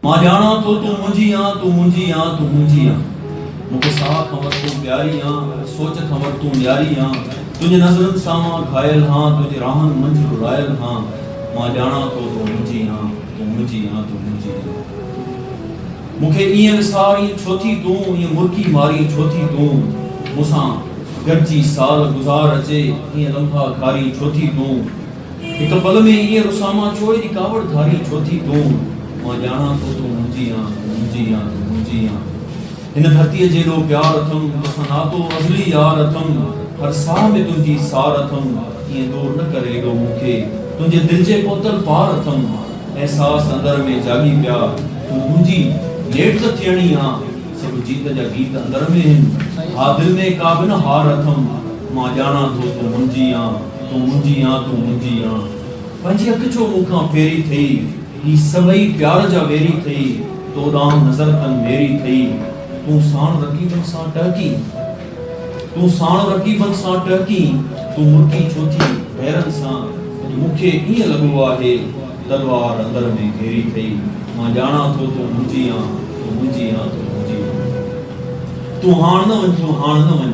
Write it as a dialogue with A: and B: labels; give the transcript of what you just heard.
A: مان ڄاڻان ٿو تون منهنجي آن، تون منهنجي آن، تون منهنجي آن. مون کي ساهه کان وڌ تون پياري آن، سوچ کان وڌ تون نياري آن. تنهنجي نظرن سان مان گهايل هان، تنهنجي راهن منجهه رڙايل هان. مان ڄاڻان ٿو تون منهنجي آن، تون منهنجي آن، تون منهنجي آن. مون کي ائين وسارين ڇو ٿي تون، ائين مرڪي مارين ڇو ٿي تون. مون سان گڏجي سال گذار اچي، ائين لمحا گهارين ڇو ٿي تون. هڪ پل ۾ ائين رسامان ڇو ايڏي ڪاوڙ ڌارين ڇو ٿي تون مان ڄاڻان ٿو تون منهنجي آن منهنجي آن منهنجي آن هن ڌرتيء جيڏو پيار اٿم توسان ناتو ازلي يار اٿم هر ساهه ۾ تنهنجي سار اٿم ائين دور نه ڪر ايڏو مون کي تنهنجي دل جي پهتل پار اٿم احساس اندر ۾ جاڳي پيا تون منهنجي ليٽ ته ٿيڻي آن سڀ جيت جا گيت اندر ۾ هن ها دل ۾ ڪا به نه هار اٿم مان ڄاڻان ٿو تون منهنجي آن. تون منهنجي آن تون منهنجي آن پنهنجي اک ڇو مون کان ڦيري ٿئي هي سڀئي پيار جا ويري ٿئي تو ڏانهن نظر تن ميري ٿئي تون ساڻ رقيبن سان ٽهڪين تون ساڻ رقيبن سان ٽهڪين تون مرڪي ڇو ٿي غيرن سان اڄ مون کي ائين لڳو آهي تلوار اندر ۾ گهيري ٿئي مان ڄاڻان ٿو تون منهنجي آن تون منهنجي آن تون منهنجي آن تون هاڻ نه وڃ تون هاڻ نه وڃ.